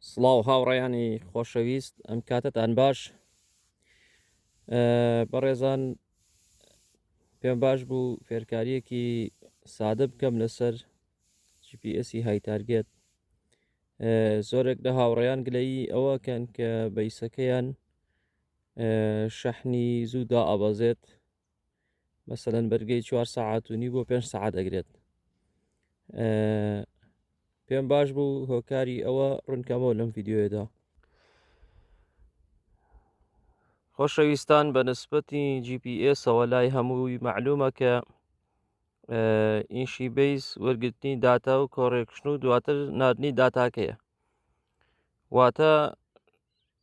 سڵاو هاوڕێیانی خۆشەویست ئەم کاتتان باش بەڕێزان پێم باش بوو فێرکاریەکی سادە بکەم لەسەر جیPSی های تارگێت زۆرێک لە هاوڕێیان گلەیی ئەوە کەن کە بەیسەکەیان شەحنی زوودا ئابەزێت مەسەەن بەرگەی چوار سەعات و نی بۆ پێنج سەعات ئەگرێت پێم باش بوو هۆکاری ئەوە ڕوونکەمەوە لەم یددیوێدا خۆشەویستان بە نسبەتی GPSەوە لای هەمووی معلومە کە ئیشی بیس وەرگرتنی داتا و کۆڕێکشن و دواتر نردنی داتاکەیە واتە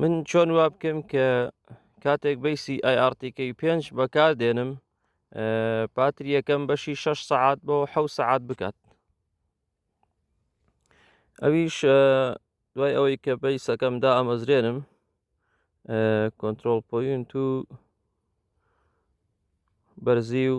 من چۆن وا بکەم کە کاتێک بەیسی ئایRTکەی پێنج بەکار دێنم پاتری یەکەم بەشی شش سعات بۆ حە سعات بکات ئەویش دوای ئەوەی کە بەیسەکەم دا ئەمەزرێنم کۆنتترۆل پوین تو بەرزی و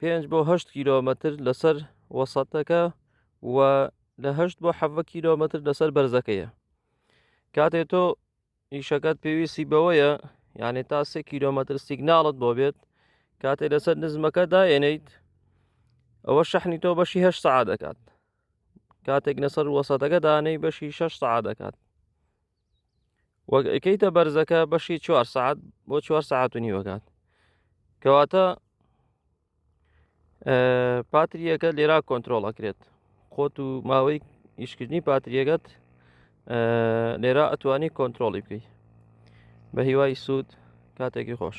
پێنج بۆ هەشت کیلۆمەتر لەسەر وەسەتەکە و لە هەشت بۆ حەڤە کیلۆمەتر لەسەر بەرزەکەیە کاتێ تۆ ئیشەکەت پێویستی بەوەیە یعنی تا سێ کیلۆمەتر سیگناڵت بۆ بێت کاتێ لەسەر نزمەکە داێنیت ئەوە شەحنی تۆ بەشی هەشت سعا دەکات کاتێک لەسەر وەسەتەکە دانەی بەشی شەش سعا دەکات وەک ئەکەیتە بەرزەکە بەشی چوار سعات بۆ چوار سعات و نیوەکات کەواتە پاتریەکە لێرا کۆنتترۆڵ ئەکرێت خۆت و ماوەی ئیشکردنی پاتریەکەت لێرا ئەتوانی کۆنتترۆڵی بکەیت بە هیوای سوود کاتێکی خۆش